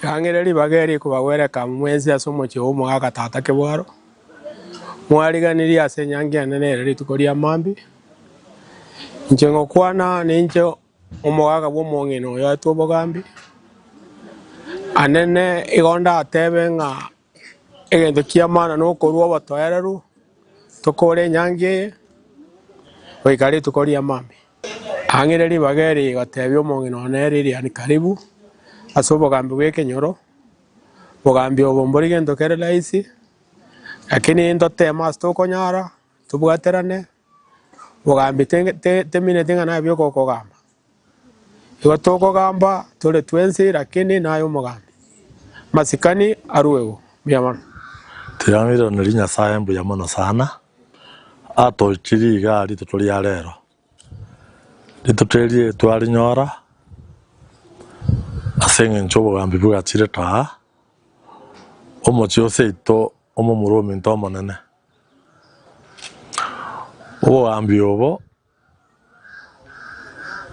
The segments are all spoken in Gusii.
Ring'ana ribaga eri rikobagwereka mwensi ase omochie omogaaka tata kebwaro, mwariganirie ase enyangi yane nere rituko ria mambia. Inche ngokwana ninche omogaaka bw'omong'ina oyoetwe obogambi. Anene igo ndatebe ng'a Egento ki'amana nokorua obotoereru tokore enyangi eye goika rituko ri'amambia. Ang'ire ribaga eri rigotebia omong'ina one Lilian Karibu ase obogambi bw'ekenyoro, Obogambi obo mbori gento kere rahisi, lakini ntotema ase tokonyara tobwaterane, obogambi temineti ng'a nabi ogokogamba. Igo tokogamba tore twensi, lakini naye omogambi. Masikani aruegwe buya mono. Tigaangereirwe riria Nyasae mbuya mono sana atoichirie igaa rituko ria rero. Rituko erie twarinyora ase engencho obogambi bogachire kaa omochie o seito omomura ominto omonene. Obogambi obo.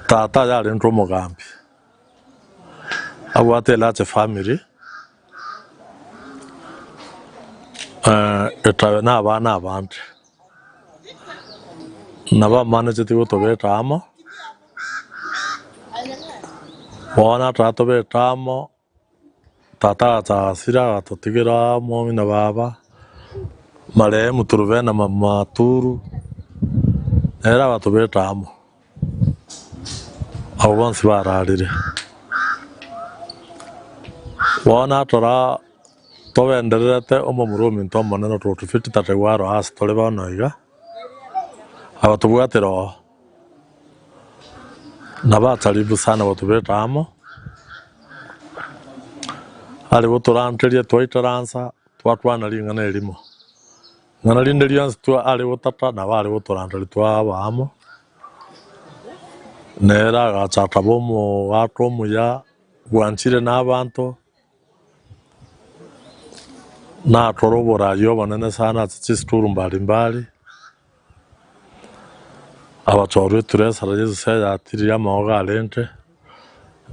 Tata oye arentwe omogambi, abwate a large family, etabe na abana abande. Nabo amanecheti gotobeta amo, bono natara tobete amo Tata agasasira agatotigera omomina baba marehemu turubena maturu nere agatobeta amo abo bonsi bararire bono natara togendererete omomura ominto omonene ototufiti tata igo aroase tore bono iga abatobwatera oo. Nabo atari bosa nabatobete amo, arigotoranteria twaitaransa twatwana ring'ana erimo. Ing'ana rinde rionsi arigotata nabo arigotoranteria twaba amo. Nere agacha akaba omogato omuya bwanchire nabaanto, Nakore oboraria obonene sana ase chisituru mbari mbari, abachorwa eturesara Yesus eyatirie amaogo arenge,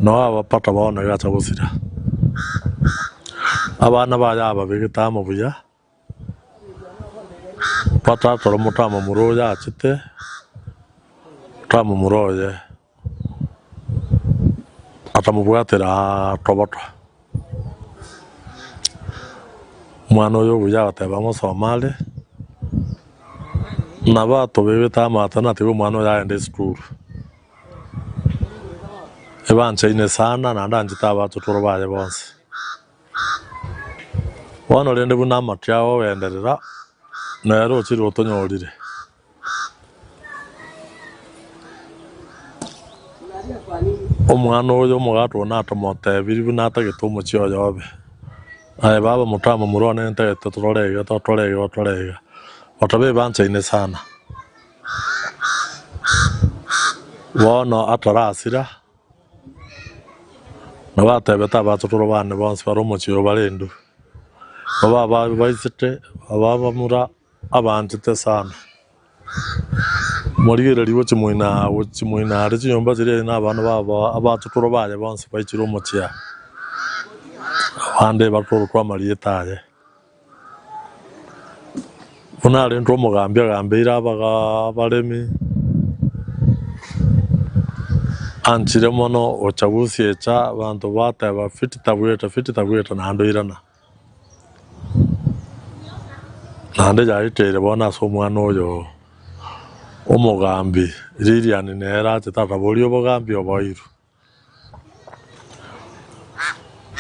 nao abapata baoneke acha gosira. Abana baye ababegete amo buya. Batakora omotamamura oyo achete omotamamura oye atamobwatera toboto. Omwana oyo obuya agateba ng'a osome are nabo atobebete amato natiga omwana oyo agende esukuru. Ebanchaine sana naende anchete abato toro baye bonsi. Bono rende buna amaki ao ogenderera, nere ochire otonyorire. Omwana oyo omogato oyo natomotebirie buna atagete omochie oye obe. Aye baba motamomura one nintagete torore iga totore iga otore iga. Otoba ebanchaine sana. Bono atarasira. Nabo atebete abaturwa bane bonsi bare omochie oo bare Hindu, nabo ababaisete ababamura abaanchete sana. Morigererigwe chimoina aa chimoina are chinyomba chiria ere nabana babo abaturwa baye bonsi baichire omochie aa, abande batorokwa amarieta aye. Buna arentwe omogambi agambeire abaga abaremi, Anchire mono gocha gosia echa, abanto bateba, Fiti tabwete, fiti tabwete, naende oirana. Naende yaeteire bono ase omwana oyo omogambi, ririani nere achete ataborie obogambi oboiru.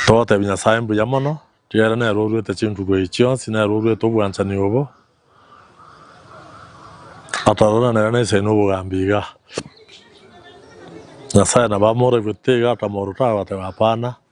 Togotebia Nyasae mbuya mono, ekiagera nere oruete chinguru echi chionsi, nere oruete obwanchani obo, ataroranera nense eye nobogambi iga. Nyasae nabo amoraigwe tiga atamorota agobateba hapana.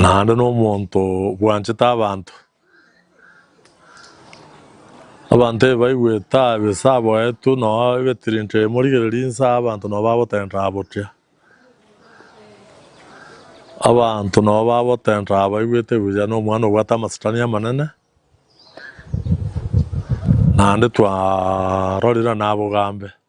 Naende nomonto obwanchete abanto. Abanto ebe baigwete abe ase aboeto noa ebetirinto ebi morigereria inse aa abanto noa bagotenraa bokia. Abanto noa bagotenraa abaigwete buya na omwana obwate amasetani amanene naende twarorire nabogambe.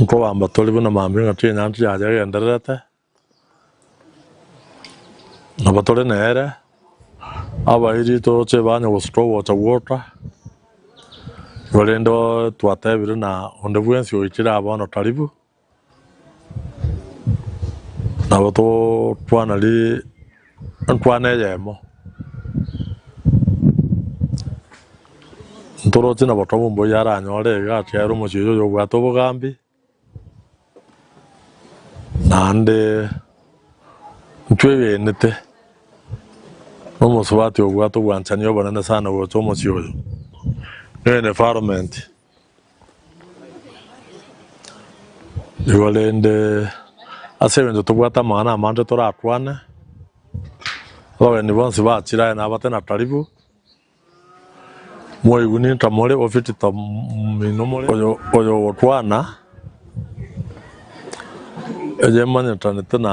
Nkobamba tore buna mambia ng'a twenyene intwe yaria egendererete, nabo tore nere, abairi toroche banya gosuka ogocha gwoka, korende twatebire ng'a onde bwensi oikire aa bono taribu. Nabo tokwana riria enkwana eyemo ntoroche na botobu mboyo aranyore iga achiare omochieyo oyo obwate obogambi naende ntwegenete na omosubati obwate obwanchani obonene sana gocha omochie oyo, nigo environment. Igo rende ase eng'encho tobwate amang'ana amange torakwane, abageni bonsi bachire aye nabate na karibu, moigwe ninka more, ofiti tominwe more, oyo ogokwana, eyemanyerete na.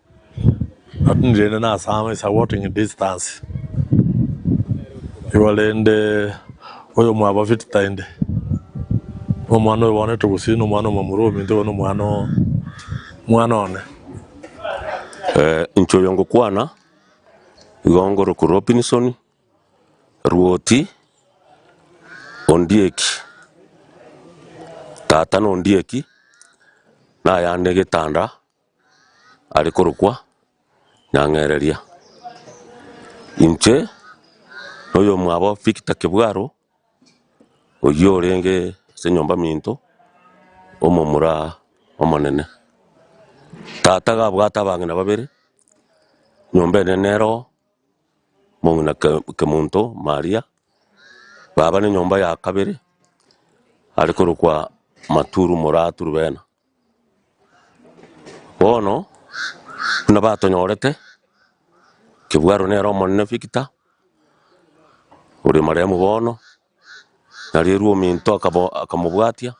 Otinyi rende nase amo is a walking distance igo rende oyomwabafiti tainde no omwana oyo bono etogosiri no omwana omomura ominto igo no omwana oo omwana one. Inche oyo ngokwana igo ngorokwa Robinson Rwoti Ondieki, tata na Ondieki, nayande getanda. are korokwa Nyang'ereria. Inche noyomwabo Victor Kebwaro, oyio orenge ase nyomba minto, omomura omonene. Tata iga abwate abang'ina babere, nyomba ene nere oo, mong'ina Ke- Kemonto Maria, baba nenyomba ya kabere, are korokwa Maturu Muratu Rubena. Bono buna batonyorete, Kebwaro nere omonene Victor, ore marehemu bono, Nyarerwa ominto akabo akamobwatia,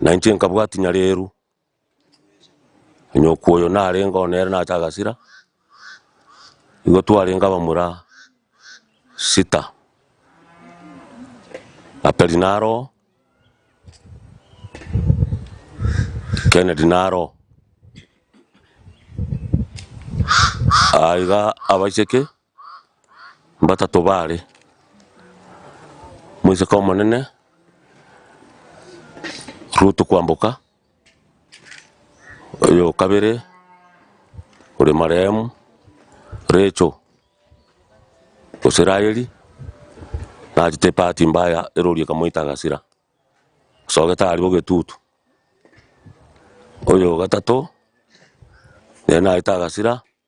na inche nkabwatia Nyarerwa. Onyoko oyo narenge oo nere nacha Gasira, nigo twarenge abamura sita, Aperi naro oo. Kennedy naro aa iga abacheke mbatato bare, moiseke omonene Ruto kwamboka. Oyo o kabere ore marehemu Rachel gose Raheli, nachete ebahati mbaya erori ekamoita agasira, osogete aria ogetutu. Oyo o gatato, nere naete agasira.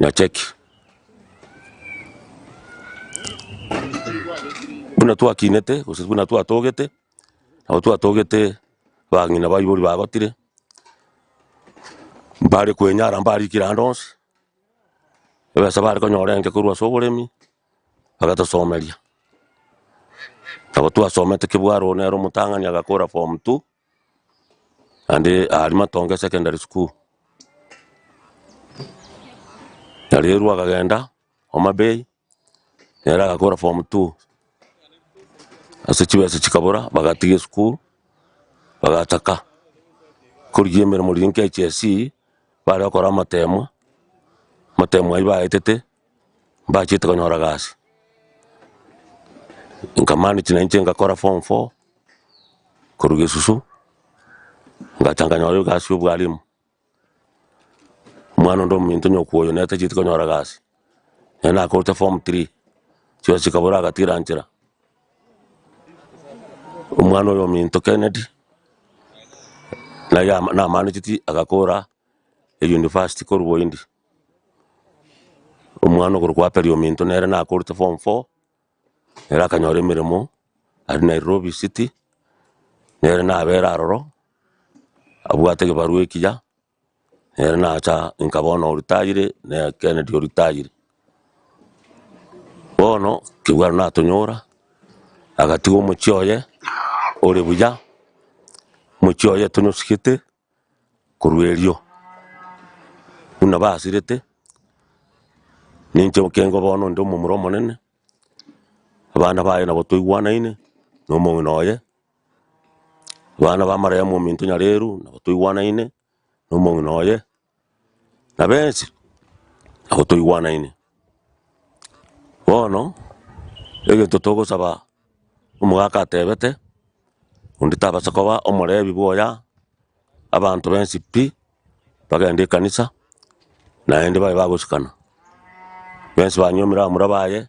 Nachaki, buna twakinete gose buna twatogete, nabo twatogete bang'ina baibori bagotire, mbare kwenyara mbare rikire ande onsi, ebesa bare konyora enke korwa ase oboremi, bagatosomeria. Nabo twasomete kebwarwa one nere omotang'ani agakora form two. Naende aria Matonge secondary school, nario erwa akagenda Homa Bay, nere agakora form two, ase chibesa chikabora bagatiga esukuru, bagataka korigia emeremo riria nkiachiasii, bare gokora amateemwa, amateemwa ayio baetete. Mbachete konyora gasi, nkamanage na inche ngakora form four korwa gesusu, ngacha nkanyora egasi ya obwalimu, omwana onde omonto onye okoyo nere tacheti konyora gasi, nere nakorete form three, chibesa chikabora agatira nchera, omwana oyo ominto Kennedy, naye ama namaneti agakora university korwa boyindi. Omwana okorokwa Aperi ominto nere nakorete form four, nere akanyora emeremo aria Nairobi city, nere nabere aroro, abwate egebarwa ekiya, nere nacha inka bono oritayire, naye Kennedy oritayire. Bono kegwaro natonyora, agatiga omochie oye ore buya, omochie oye tonyosigete. Korwa erio, buna basirete, ninche ekengo bono inde omomura omonene, abana baye nabo toigwanaine, na omong'ina oye, abana ba Mariamu ominto Nyareru nabo toigwanaine, na omong'ina oye. Na bensi nabo toigwanaine. Bono egento togosaba omogaka atebete onde tabasa koba omorebi bwoya abanto bensi pi bagende ekanisa naende babe bagosikana. Bensi banywe emeramura baye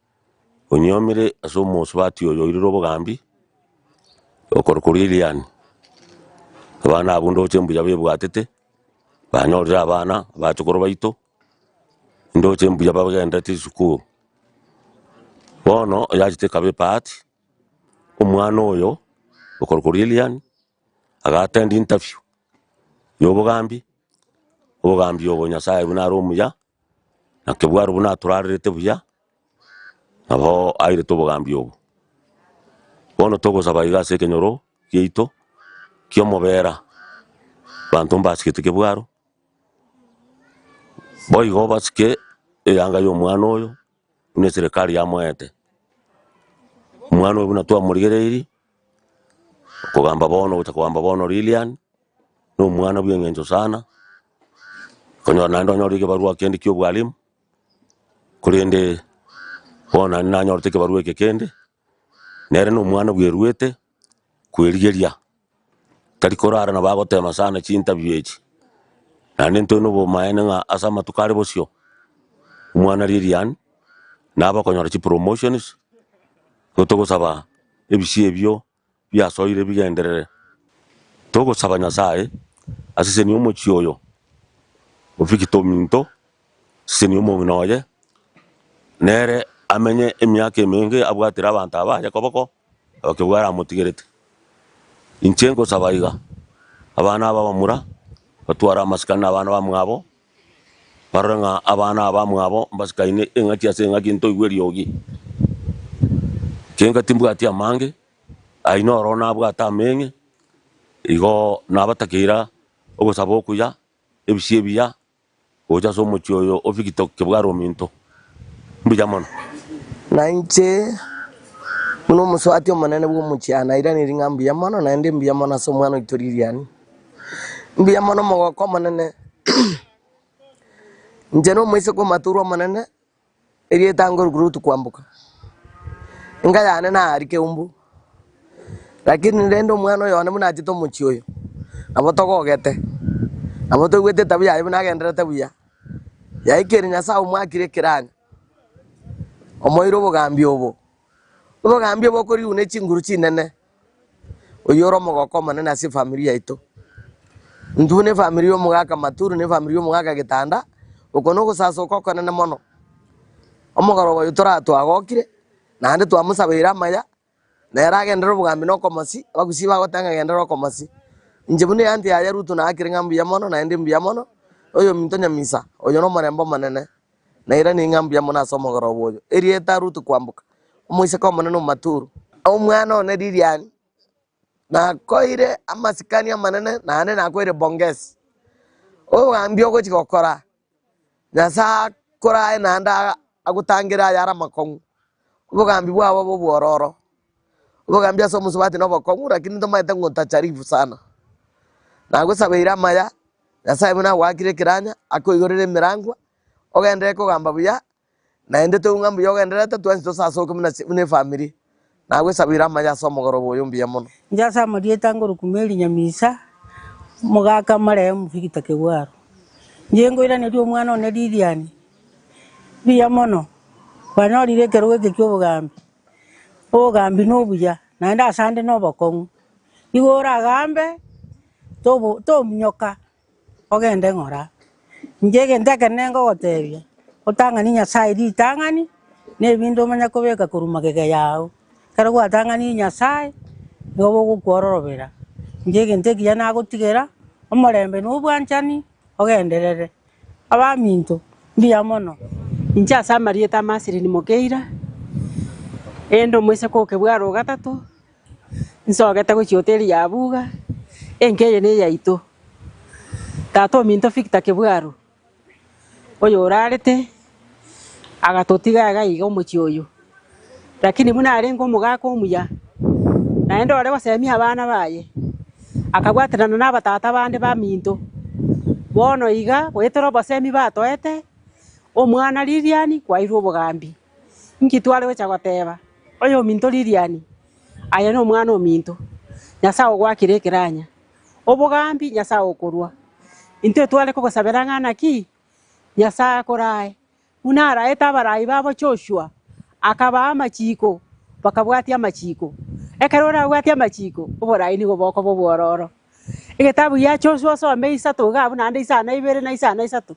Onyuomire ase omosubati oyo oirire obogambi, okorokwa Lilian. Abana abwo ndoche mbuya bebwatete, banyorire abana, abachukuru baito, ndoche mbuya bagenderete chisukuru. Bono oyachete ekaba ebahati, omwana oyo okorokwa Lilian, aga attend interview ya obogambi, obogambi obo Nyasaye buna are omuya. Naki bw'arabwo natorarerete buya, nabo airete obogambi obo. Bono togosaba iga ase ekenyoro giaito ki'omobera, abanto mbasigete kebwaro, boigo basike eyanga y'omwana oyo, buna eserekari yamoete. Omwana oyo buna twamorigereiri, Okogamba bono gocha kogamba bono Lilian no mwana bwe ng'encho sana konyora naende onyore ekebarua kende kia obwalimu korende bono naende nanyorete ekebarua eke kende nere no mwana bwe ruete kwerigeria tari korara na bagotema sana chi interview echi naende ntore no bomaene ng'a ase amatuko are bosio omwana Lilian nabo okonyora chi promotions nigo togosaba. ebisio ebio biasoire bigenderere. Togosaba Nyasae, asesenie omochie oyo o Victor ominto, asesenie omong'ina oye, nere amenye emiaka emenge abwatire abanto aba aye koboko, abakebwe aramotigerete. Inche nkosaba iga, abana aba abamura, batware amasikani na abana bamwabo. Barore ng'a abana abamwabo mbasikaine engaki ase engaki ntoigwe eriogi. Kenga timbwati amange, aye noro nabwate ameng'e, igo nabatakeira ogosaba okuya, ebisio ebiya, gocha ase omochie oyo o Figitok kebware ominto. mbuya mono. Na inche, buna omosubati omonene bw'omochie, aye nairaneiri ng'a mbuya mono, naende mbuya mono ase omwana oito Lilian. Mbuya mono omogoko omonene. Inche nomoiseke omotorwa omonene, erieta ngoruka rutu kwamboka. Enka yane nari keumbu, lakini rende omwana oyo one buna achete omochie oyo, nabo togogete, nabo toigwete etabia yaye buna agendererete buya. Yaikire Nyasae omoakire ekeranyo, omoeire obogambi obo, obogambi obo okorigwa ne chinguru chinene, oyio ore omogoko omonene ase efamiri yaito. Intwe ne efamiri ya omogaka Maturi ne efamiri ya omogaka Gitanda, oko nogosasoka okonene mono. Omogoroba oyio toratwagokire, naende twamosabeire amaya, Na ere agenderere obogambi na okomosi, abagusii bagoteba ng'a genderera okomosi. Inche buna eanty yaye Ruto naakire ng'a mbuya mono, naende mbuya mono, oyominto nyamisa, oyio nomorembe omonene, nairaneiri ng'a mbuya mono ase omogoroba oyo. Erieta, Ruto kwamboka, omoiseke omonene omomaturu. Omwana one Lilian, nakoeire amasikani amanene, naende nakoeire bongesi. Obogambi ogochi gokora, Nyasae akorae naende agotangere ayare amakong'u, obogambi bwabo bobwororo. Obogambi ase omosubati nobokong'u rakini tomaete ng'o tacharifu sana. Nagosabeire amaya, Nyasae buna agoakire ekeranya, akoigorere emerangwa, ogenderere kogamba buya, Naende toigwe ng'a mbuya ogendererete twensi tose ase oke buna buna efamiri. Nagwesabeire amayo ase omogoroba oyo mbuya mono. Inche ase amarieta ngoro Kumeli Nyamisa, omogaka omarehemu Victor Kegwaro. Inche nkoiraneria omwana one Lilian mbuya mono, kwanyorire ekerogo eke kia obogambi, obogambi na obuya naende asande na obokong'u. Igo oragambe tobo tominyoka. Ogende ng'ora, inche egento ekero nengogotebia, otang'ani Nyasae ritang'ani, na ebinto omanye kobeka korwa magega yao, ekero gwatang'aniri Nyasae, nigo bogokwororobera, inche egento ekiya nagotigera, omorembe na obwanchani ogenderere. Abaminto, mbuya mono. Inche ase amarieta ama asili nimokeira, erinde omoiseke okebware ogatato. Nsogete gochia hoteli ya Abuga, enka eye neyaito. Tata ominto Victor Kebwaru, oyorarete agatotiga iga iga omochie oyo. Lakini buna arenge omogaka omuya, naende ore gosemia abana baye, akabwaterana na abatata bande baminto. Bono iga goetera obosemi batoete, omwana Lilian kwairwe obogambi. Inki tware gocha goteba oyominto ririani? Aye nomwana ominto, Nyasae ogoakire ekeranya, obogambi Nyasae okorua. Intwe tware kogosabera ng'a naki? Nyasae akorae, buna araete abarai babo Joshua, akabaa amachiko, bakabwatia amachiko. Ekero orabwate amachiko, oborai nigo bokoba obwororo. Egetabu gia Joshua osome isato iga abwo naende isano ibere na isano isato.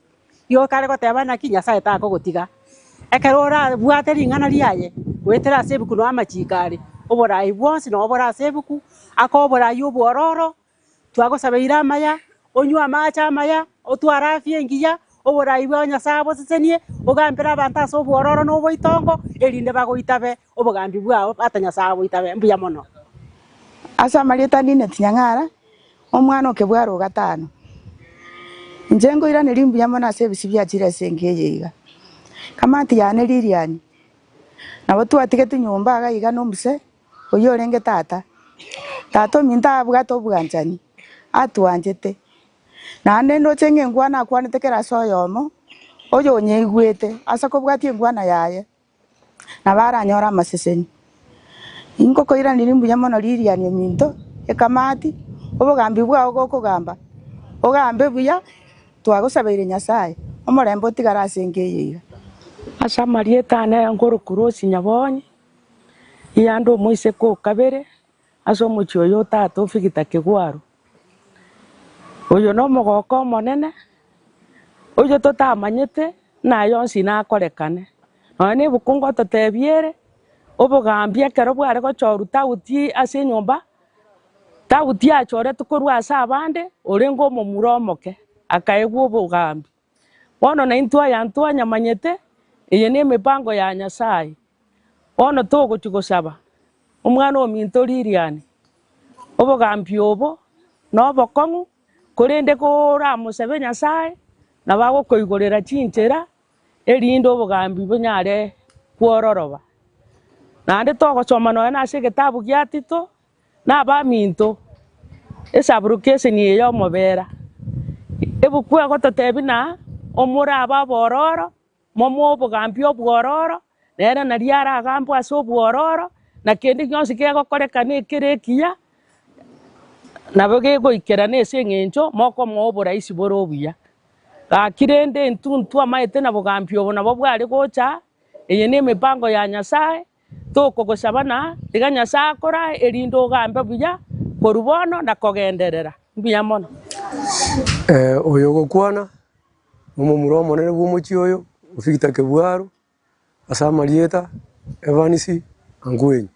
Igo kare goteba naki Nyasae takogotiga. Ekero orabwate ring'ana riaye, goetera ase ebuku noe amachiko are, oboraai bwonsi noe bore ase ebuku, akoe oboraai obwororo, twagosabeire amaya, onywe amaache amaya, otware afya engiya, oboraai bwao Nyasae abosesenie, ogambere abanto ase obwororo na oboitongo, erinde bagoitabe obogambi bwao, ata Nyasae aboitabe. Mbuya mono. Ase amarieta nineti nyang'ara, Omwana o kebwaro o gatano, inche nkoiraneria mbuya mono ase ebisio bia chirese enka eye iga. Kamati yane Lilian, nabo twatigete nyomba iga iga na omuse oyio orenge tata. Tata ominto abwate obwanchani, atwanchete, naende ndoche ng'a engwana akwanete kera ase oyomo, oyo onyeigwete ase kobwatia engwana yaye, nabaranyore amaseseni. Ingo koiraneria mbuya mono ririani ominto ekamati, obogambi bwao gokogamba, ogambe buya twagosabeire Nyasaye, omorembe otigare ase enka eye iga. Ase amarieta ane nkoro Kurosi Nyabonyi, Iyanda omoiseke o kabere ase omochie oyo o tata o Victor Kegwaru. Oyo nomogoka omonene, oyo totamanyete naye onsi nakorekane. Nonya ne ebukungu ototebiere, obogambi ekero bware gochorwa tauti ase enyomba, tauti yachoretwe korwa ase abande, orenge omomura omoke, akaegwa obogambi. Bono naintwe aya ntwanyamanyete, eye nemebango ya Nyasaye. Bono togochia gosaba Omwana-ominto ririani, obogambi obo nobokong'u, korende koramosabe Nyasaye, nabo agokoigorera chinchera, erinde obogambi bonyare kwororoba. Naende togosoma nonya nase egetabu gia Tito, nabaminto, esaburuke eseni eye y'omobera. Ebuku egototebia na omora abe abororo, momoe obogambi obwororo, nere naria aragambwe ase obwororo, na kende gionsi kegokorekana ekere ekiya, nabo gegoikerana ase eng'encho mokomoa oboraisi bore obuya. Gaki rende intuntu amaete na bogambi obo nabo bware gocha, eye nemebango ya Nyasaye, tokogosaba na iga Nyasae akorae erinde ogambe buya korwa bono na kogenderera. Mbuya mono. Ee, oyo ogokwana nomomura omonene bw'omochie oyo, Victor Kebwaro, ase amarieta Evans Angwenyi.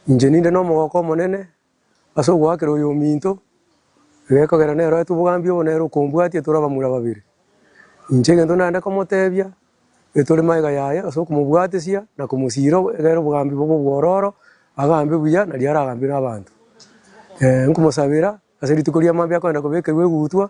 Inche ninde nomogoko omonene Ase ogoakera oyominto, egekogera neroete obogambi obo nere okombwatia tore abamura babere. Inche egento naende komotebia, etore magega yaye ase okomobwatesia na komosiira egere obogambi bobe obwororo, agambe buya nario aragambire abanto. Ee, nkomosabera ase rituko ria mambia akoenda kobekerwa egutwa.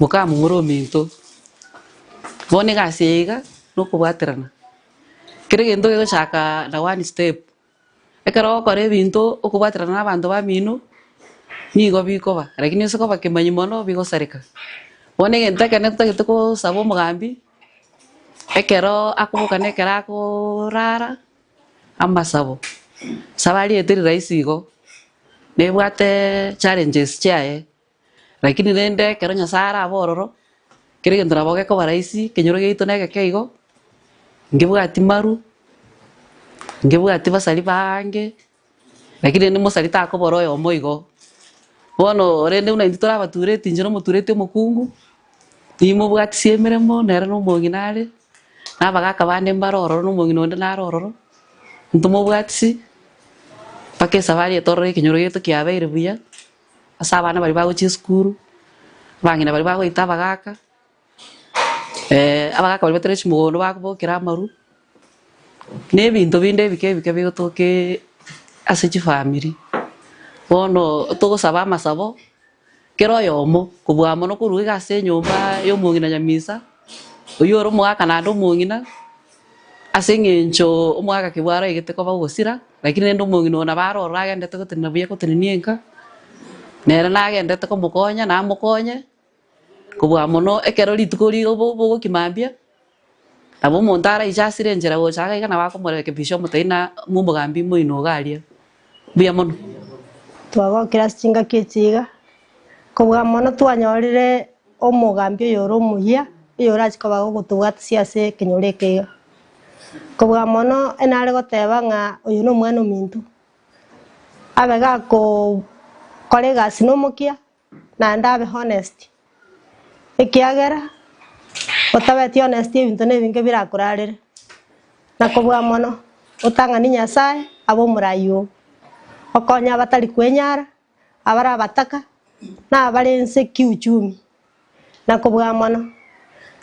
Mokamong'ora ominto, bono egasi eye iga nokobwaterana, kera egento gegochaka na one step, ekero ogokora ebinto okobwaterana na abanto bamino, nigo bikoba lakini ase koba kemanyi mono bigosareka. Bono egento ekero totagete kosaba omogambi, ekero akoboka na ekero akorara, amasabo, saba ariete riraisi igo, nebwate challenges chiaye. Lakini rende ekero Nyasae are abororo, kera egento nabo gekoba rahisi, ekenyoro giaito negeke igo, ngebwati maru, ngebwati basari baange, lakini rende mosari takobora oyomo igo. Bono rende buna intwe tore abatureti, inche nomotureti omokungu, nimobwatisia emeremo nere na omong'ina are, na abagaka bande mbare ororo na omong'ina onde nare ororo, ntomobwatisi mpaka esabari etorore ekenyoro giaito kiabeire buya. ase abana baria bagochia esukuru, abang'ina baria bagoita abagaka, abagaka baria batari chimogondo bakobokera amarwa, na ebinto binde ebike ebike bigotoka ase chifamiri. Bono togosaba amasabo, kera oyomo kobua amo nokorwa iga ase enyomba ya omong'ina nyamisa, oyio ore omogaka naende omong'ina. Ase engencho omogakebwa araegete koba ogosira, lakini rende omong'ina oo nabo aroro agenderete gotenena buya gotenenia enka, nere nagenderete komokonya na amokonye, kobua mono ekero rituko rigo bo- bogokia mambia, nabo omonto araiche asire enchera gocha iga nabo akomorekebisha omotebi na ng'a omogambi moino iga aria. Mbuya mono. Twagokire ase chingaki echi iga, kobua mono twanyorire omogambi oyore omuya, oyorache koba gogotobwatisia ase ekenyoro eke iga. Kobua mono onye nare goteba ng'a oyo nomwana ominto, abe gakoo kora egasi nomokia, naende abe honest, ekiagera otabeti honest ebinto nebinge birakorarere. Na kobua mono otang'ani Nyasaye abe omorayi oo, okonye abatari kwenyara, abare abataka, na abare ense kiuchumi. Na kobua mono,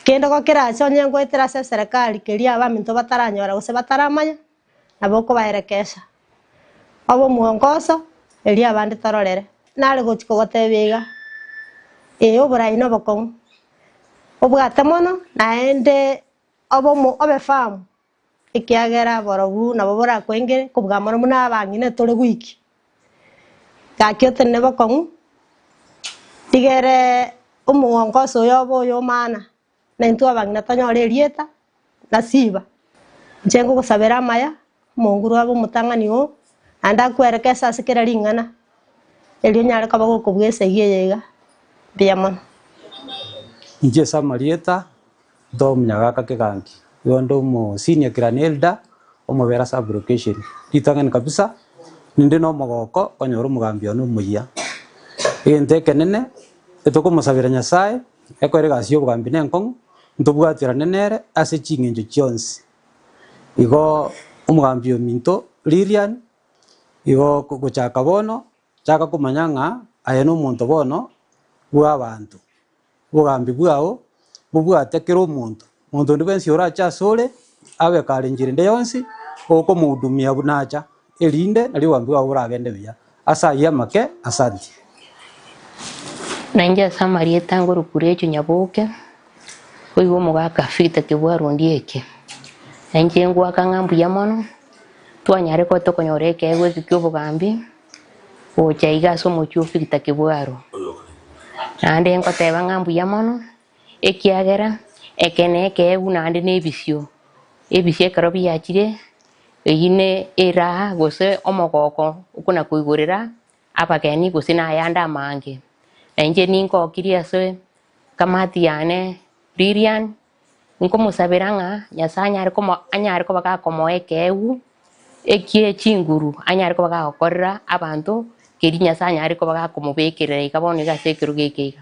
kende gokera ase onye ngoetera ase eserekari keria abaminto bataranyora gose bataramanya, abokobaerekesa obomwongoso, erio abande tororere, nare gochia kogotebia iga, Ee, oborai nobokong'u, obwate mono, naende obe omo- obefahamu, ekiagera borobu nabo borakwengere kobua amang'ana buna abang'ina tore gwiki. Gaki otende nobokong'u, rigere omwongoso oyobe oyomaana, na intwe abang'ina tonyore erieta na chiba. Inche ngogosabera amaya, omonguru abe omotang'ani oo, naende akwere keso ase kera ring'ana, erio onyare koba gokobua esegi eye iga. Mbuya mono. Inche ase amarieta, intwe omonyagaaka Kigangi, nigo nde omo senior clan elder, omobere ase Aburo Kesheni. Ritang'ani kabisa, ninde na omogoko konyora omogambi one omoyia. Egento ekenene, ntokomosabera Nyasaye, Ekero egasi y'obogambi nenkong'u, ntobwaterane nere ase ching'encho chionsi. Igo omogambi ominto Lilian, igo gochaka bono chaka komanya ng'a aye nomonto bono bw'abanto. Obogambi bwao bobwate kera omonto Monto onde bwensi orache asore, agekare enchera ende yonsi, okomohudumia buna acha, erinde nario obambe bwabo boragende buya. Ase ayio amake, asanti. Na inche ase amarieta a Ngorokuru Echo Nyaboke, oigwa omogaka Victor Kebwaru Ondia Eke, na inche ngoaka ng'a mbuya mono twanyare koba tokonyora ekeegwa eke kia obogambi gocha iga ase omochie o Victor Kebwaru. Naende ngoteeba ng'a mbuya mono. Ekiagera eke nekeegu naende nebisio ebisio ekero biachire, eyio ne eraha gose omogoko okona-koigorera abageni gose nayande amange. Na inche ningokirie ase kamati yane Lilian, nkomosabera ng'a Nyasaye anyare komo anyare koba gakomoa ekeegu ekie chinguru anyare koba gagokorera abanto, keri Nyasaye anyare koba gakomobekerera iga bono iga ase ekerogo eke iga.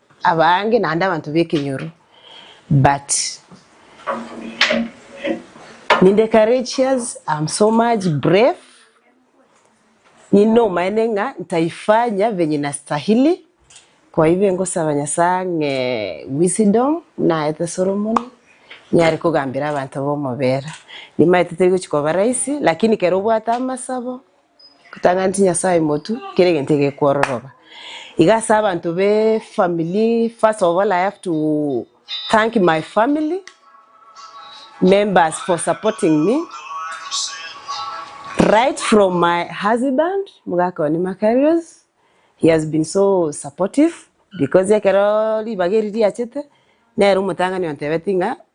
Abange naende abanto b'ekenyoro, but ninde courageous, am so much brave, ninde omaene ng'a ntaifanya venye nastahili, koibe ngosaba Nyasae ang'e wisdom buna aete Solomon, nyare kogambera abanto b'omobera. Nimaete teri gochia koba rahisi, lakini kera obwate amasabo, Gotanga nti Nyasaye motu, kera egento egekwororoba. Iga ase abanto be family, first of all I have to thank my family members for supporting me. Right from my husband, mogaka one Makarios, he has been so supportive because ekero ribaga eri riachete, nere omotang'ani ontebeti ng'a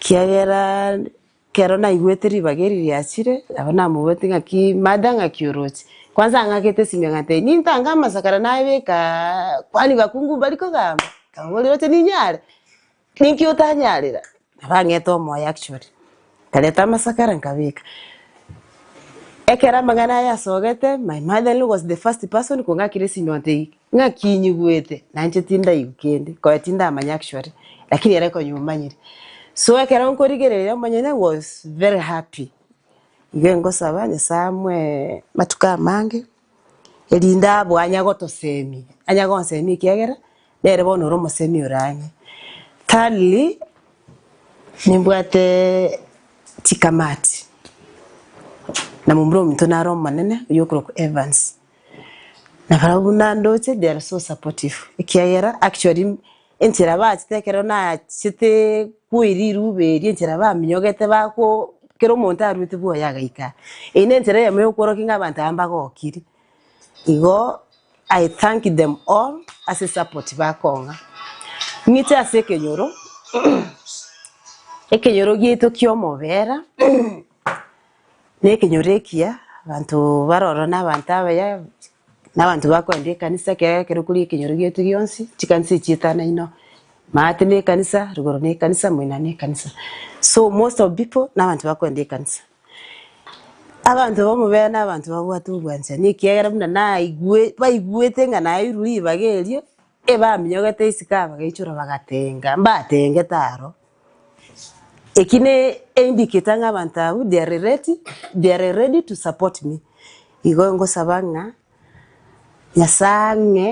Kiagera kero naigwete ribaga eri riachire, nabo namobwetie ng'aki mada ng'aki oroche. Kwanza ang'akete esimi akantebia, nintange amasakara nabeka kwani bakungu mbari kogamba? Nkamoboria, oroche ninyare? Ninki otanyarera? Nabo ang'ete omoyo actually. Nkareta amasakara nkabeka. Ekero amang'ana aya asogete, my mother in law was the first person kong'akera esimi ontebia, ng'aki inyigwete? Nainche tindaigwa kende, konya tindamanya actually, lakini ere konya omanyire. So ekero nkorigereria omonyene was very happy. Igo engosaba Nyasae amwe matuko amange. erinde abwo anye gotosemia, anye gonsemia ekiagera nere bono ore omosemi ore ang'e. Thirdly, nimbwatee chikamati, na momura ominto nare omonene oyio okorokwa Evans, na barabwo buna ndoche they are so supportive ekiagera actually. Enchera bachete ekero nachete koi riruba erio, enchera baminyogete bako kera omonto aruete bwoye agaika. Eyio nenchera eyemo ya okworokia ng'a abanto aba mbagokiri. Igo I thank them all ase esupport bakong'a. Ng'ite ase ekenyoro, ekenyoro giaito kia omobera. Ne ekenyoro ekiya abanto baroro na abanto abaya na abanto bakoenda ekanisa ekero ekero kori ekenyoro giaito gionsi chikanisa echi etano ino maate ne ekanisa rugoro ne ekanisa moina ne ekanisa so most of pipo na abanto bakoenda ekanisa. Abanto bamobere na abanto babwate obwanchani ekiagera buna naigwe baigwete ng'a nairwe ribaga erio Ebaminyogete isiko abagaichora bagatenga, mbatengete aro. Eki ne e indicator ng'a abanto abwo they are ready, they are ready to support me. Igo ngosaba ng'a Nyasae ang'e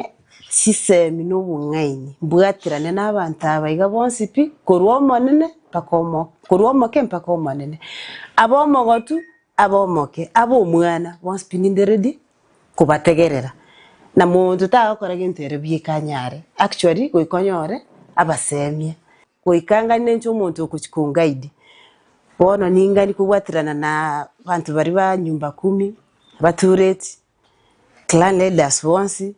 chisemi na obong'aini, mbwaterane na abanto aba iga bonsi pi, korwa omonene mpaka omo, korwa omoke mpaka omonene. Abe omogotu, abe omoke, abe omwana, bonsi pi ninde ready. kobategerera, na monto tagokora gento ere bweka anyare actually goika onyore abasemie goika ngani nenche omonto okochi ko guide bono ningani kobwaterana na abanto baria ba nyumba kumi, abatureti, clan leaders bonsi.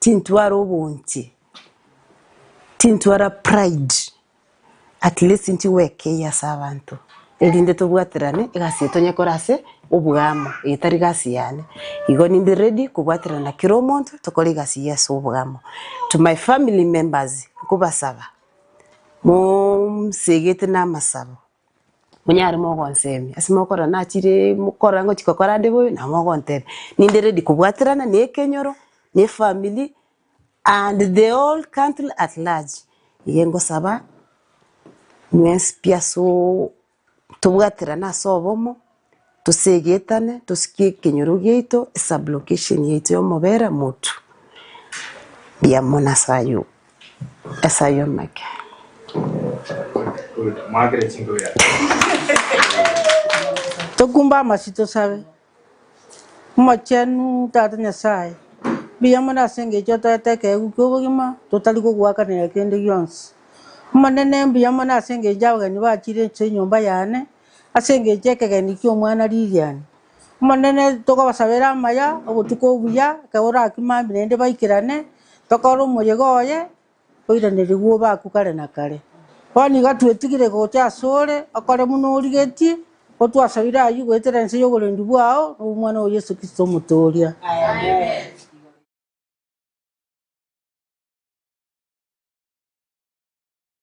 Tintwara obonche, tintwara pride, at least ntigweka eyio ase abanto erinde tobwaterane egasi eye tonye kora ase oboamo eye tari gasi yane. Igo ninde ready kobwaterana na kera omonto tokore egasi eyio ase oboamo. To my family members, nkobasaba, monsegete namasabo. monyare mogonsemia, ase mokora nachire mokora ngochi gokora ande bobe nabo mogonteba, ninde ready kobwaterana na ekenyoro, na efamiri and the whole country at large. Igo ngosaba mwensi pi asoo tobwaterane ase obomo. tosegetane tosikie ekenyoro giaito esublocation yaito yomobera motu mbuya mono ase ayio ase ayio make. Tokumbe amasi tosabe. Omochenu Tata Nyasaye, mbuya mono ase engecho otoete ekeegwa kia obogima totari kogoakanera kende gionsi. Omonene mbuya mono ase engecho abageni bachire inse enyomba yane, Ase engencho y'ekegeni ki'omwana Lilian, Omonene, tokobasabera amaya, obotuko obuya, ekero orakia mambia naende baikerane, tokore omoyega oye, oiranerigwe obe aku kare na kare. Bono iga twetigire gocha asore, okore buna origetie, otwasabire ayio goetera ense y'oborendi bwao, nobw'Omwana oo Yeso Kristo Omotooria. Amen.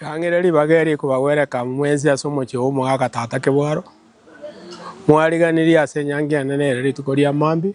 Ring'ana ribaga eri ekobagwereka mwensi ase omochie omogaka tata kebwaro, mwariganirie ase enyangi ende nere rituko ria mambia.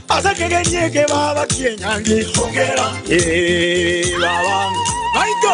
Ase ekegenyi eke baba chienyangi ongera. Ee, baba. Maito.